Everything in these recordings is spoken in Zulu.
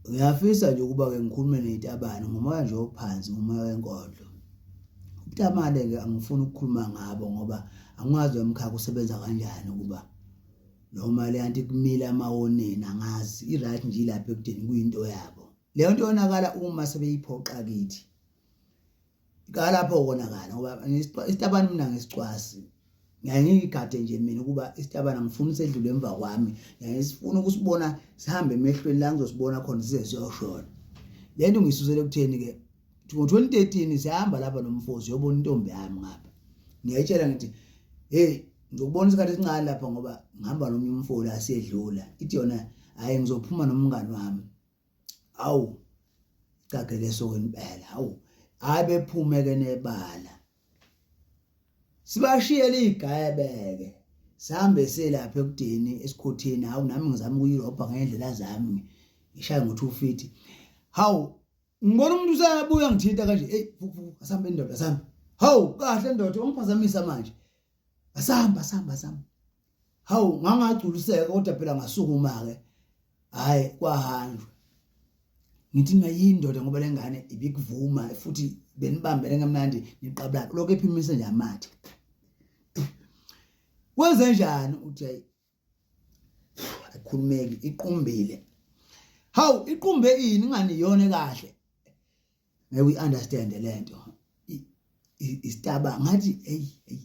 Uyafisa nje ukuba-ke ngikhulume ney'tabane ngomoya nje ophansi ngomoya wenkodlo. Ubutamale-ke angifuni ukukhuluma ngabo ngoba angiwazi lo mkhakha usebenza kanjani ukuba noma le anti kumile amawoneni angazi i-right nje ilapha ekudeni kuyinto yabo leyo nto yonakala uma sebeyiphoqa kithi kalapho konakala ngoba isitabani mina ngisicwasi ngiyaye ngiyigade nje mina ukuba isitabana ngifuna usedlule emva kwami ngiyaye sifuna ukusibona sihambe emehlweni la ngizosibona khona size siyoshona le nto ngiyisusele ekutheni-ke ngo-2013 sihamba lapha nomfozi yobona intombi yami ngapha ngiyayitshela ngithi heyi ngizokubona isikhathi esincane lapha ngoba ngihamba nomnye umfoli asedlula ithi yona hhayi ngizophuma nomngani wami awu cageke sokweni impela awu hayi bephumeke nebala sibashiyele igayebeke sihambe selapha ekudeni esikhotheni hawu nami ngizama ukuyirobha ngendlela zami ngishaye ngo-two feet hawu ngibona umuntu usabuya ngithinta kanje eyi asambe ndoda asambe hawu kahle ndoda ungiphazamisa manje asamba asamba asamba hawu ngangagculiseka kodwa phela ngasukuma ke hayi kwahanjwa ngithi mina yindoda ngoba lengane ibikuvuma futhi benibambele ngamnandi niqabula lokho ephimise nje amathe kwenze njani uthi ayikhulumeki iqumbile hawu iqumbe ini ngani yone kahle ngeke uyi understand lento isitaba ngathi hey hey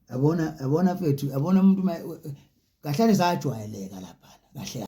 yabona yabona mfethu yabona umuntu kahlale sajwayeleka lapha kahle